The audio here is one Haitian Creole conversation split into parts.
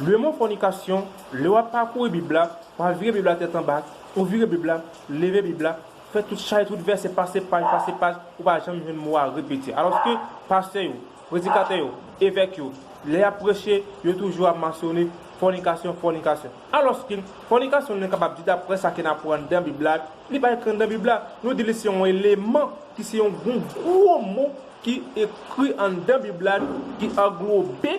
Le mo fònikasyon, lè w ap pakouri Bib la, pa vire Bib la tèt anba, ou vire Bib la, leve Bib la, fè tout chay, tout vèsè, pase paj, pase paj, ou pa janm jwenn mo a repete. Alòske, pastè yo, predikatè yo, evèk yo, lè y ap preche, yo toujou ap mansyone fònikasyon, fònikasyon. Alòske, fònikasyon nou kapab di daprè sa ke n aprann anndan Bib la, li pa ekri anndan Bib la. Nou di li se yon eleman ki se yon gwo mo ki ekri anndan Bib la ki anglobe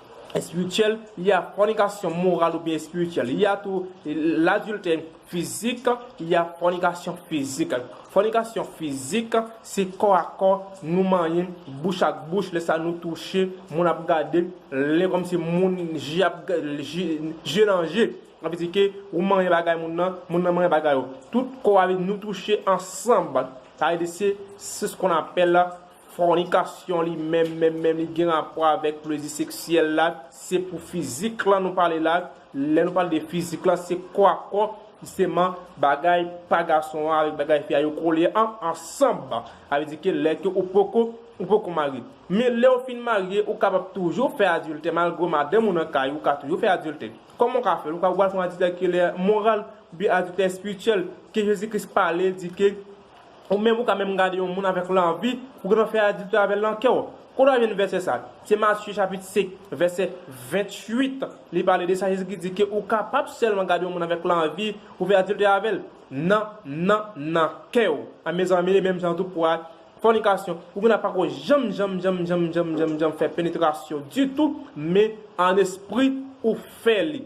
espirityèl, y ya fònikasyon moral oubyen espirityèl, y ya tou ladiltè fizik, y ya fònikasyon fizik. Fònikasyon fizik se kò a kò, nou manyen, bouch ak bouch, lè sa nou touche, moun ap gade, lè kòmsi moun je ap je nan je, sa vle di ke ou manyen bagay moun nan, moun nan manyen bagay ou, tout kò a nou touche ansanm, sa vle di se se skon apèl Fònikasyon li menm menm menm li gen rapò avèk plezi seksyèl la, se pou fizik lan nou pale la, lè nou pale de fizik lan se kò a kò, jisteman bagay pa gason an avèk bagay fi a yo kole an ansanb, sa vle di ke lè ke ou poko ou poko marye. Men lè ou fin marye ou kapab toujou fè adiltè malgre ou madanm ou nan kay ou ka toujou fè adiltè. Kòman ou ka fè l? Ou ka ou pral fè yon adiltè ki lè moral oubyen adiltè espirityèl ke Jezi Kris pale di ke Ou menm ou ka menm gade yon moun avèk lanvi pou gen nan fè adiltè avèl nan kèw. Kote wap jwenn vèsè sa? Se Matye chapit 5 vèsè 28 li pale de sa Jezi ki di ke ou kapab sèlman gade yon moun avèk lanvi pou fè adiltè avèl nan nan nan kèw a mezanmi e menm jan tou pou fònikasyon ou gen la pako janm janm janm janm janm janm janm fè penetrasyon ditou men an espri ou fè li.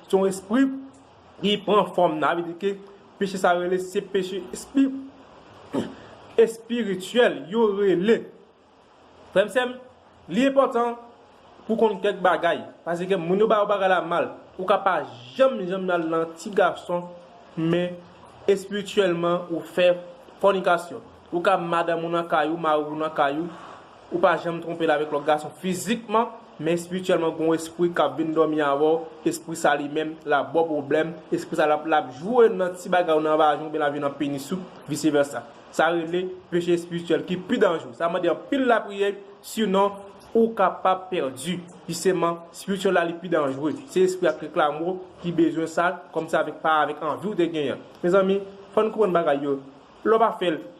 Se yon espri ki pran fòm nan. Sa vle di ke peche sa yo rele se peche espirityèl yo rele. Frè m sè m, li enpòtan pou w konn kèk bagay. Paske moun yo ba yo bagay la mal. Ou ka pa janm janm al nan ti gason men espirityèlman ou fè fònikasyon. Ou ka madanm ou nan kay ou, mari w nan kay ou. Ou pa janm twonpe l avèk lòt gason fizikman, men espirityèlman gon espri kap vin dòmi avèw, espri sa li menm lap baw pwoblèm, espri sa lap lap jwe nan ti bagay ou nan vajen ou byen lap jwe nan penis ou, vice versa. Sa rele peche espirityèl ki pi danjre. Sa mande anpil lapriyè si non ou kapab pèdi. Jisteman spirityèl la li pi danjre. Se espri ak reklame ou ki bezwen sa, kòm se avèk pa avèk anvi ou te genyen. Mezanmi fò n konprann bagay yo. Lè w pa fè l,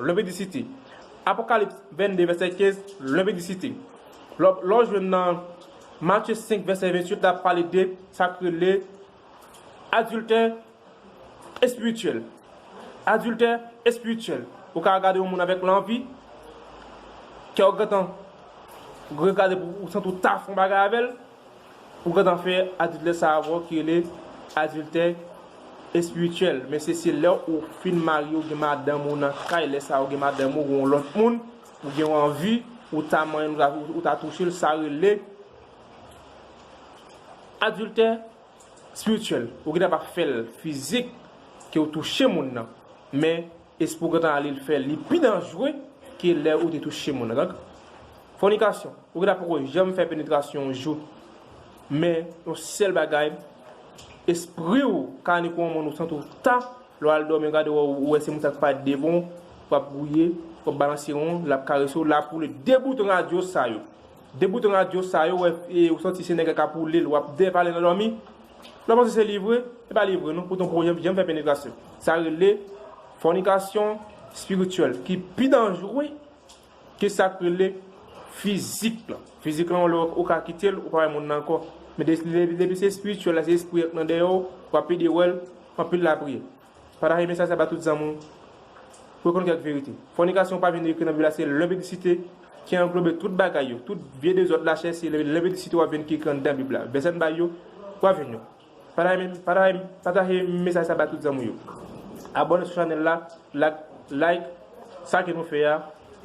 Levitdisite. Apokalips 22 vèsè 15 Levitdisite. Lè w jwenn nan Matye 5 vèsè 28 la ap pale de sa k rele adiltè espirityèl. Adiltè espirityèl. Ou ka gade yon moun avèk lanvi, kè w gentan regade pou w santi w ta fè yon bagay avè l. Ou gentan fè adiltè sa avèw ki rele adiltè espirityèl men se se lè ou fin marye ou gen madanm ou nan kay lè sa ou gen madanm ou gen yon lòt moun ou gen yon anvi ou ta manyenl ou ta touchel sa rele adiltè espirityèl ou gentan pa fèl fizik ke ou touche moun nan men Espou gentan ale l fè li pi danjre ke lè ou te touche moun nan. Fònikasyon, ou gentan poko janm fè penetrasyon yon jou, men yon sèl bagay espri w ka ale kou yon moun ou santi w ta, lè w al dòmi ou gade wè ou wè se moun sa k pa devon w, w ap gouye, w ap balanse won, l ap karese w, l ap woule 2 bout radyo sa yo. De bouton radyo sa yo wè ou santi se nèg la kap woulel wap depale nan dòmi lè w panse se li vre e pa li vre non poutan pou janm fè penetrasyon sa rele fònikasyon espirityèl ki pi danjre ke sak rele fizik lan fizik lan yon lè ou ka kitel ou pa wè moun nan ankò men depi se espirityèl la se espri an ki nan dèyè w wap pede wèl anpil lapriyè. Patajé mesaj sa ba tout zanmi w pou yo konn kèk verite. Fònikasyon pa vin ekri nan bib la se lenpidisite ki anglobe tout bagay yo, tout vye dezòd lachè se lenpidisite wap jwenn ki ekri anndan bib la. Vèsè n bay yo, wap jwenn yo. Patajé mesaj sa ba tout zanmi w yo. Abòne sou chanèl la, lak, like sa ke nou fè a.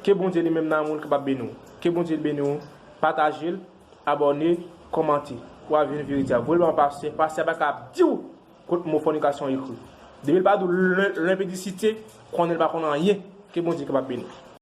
Ke Bondye li menm nan amou l kapab beni w. Ke Bondye beni w. Patajé l, abòne, kòmante. Wap jwenn verite a. Voye l ba yon pastè, pastè a paka ap di w. Kot mo fònikasyon ekri. Depil pa dou l limpidicite konnen l pa konn anyen ke bondye kapab beni.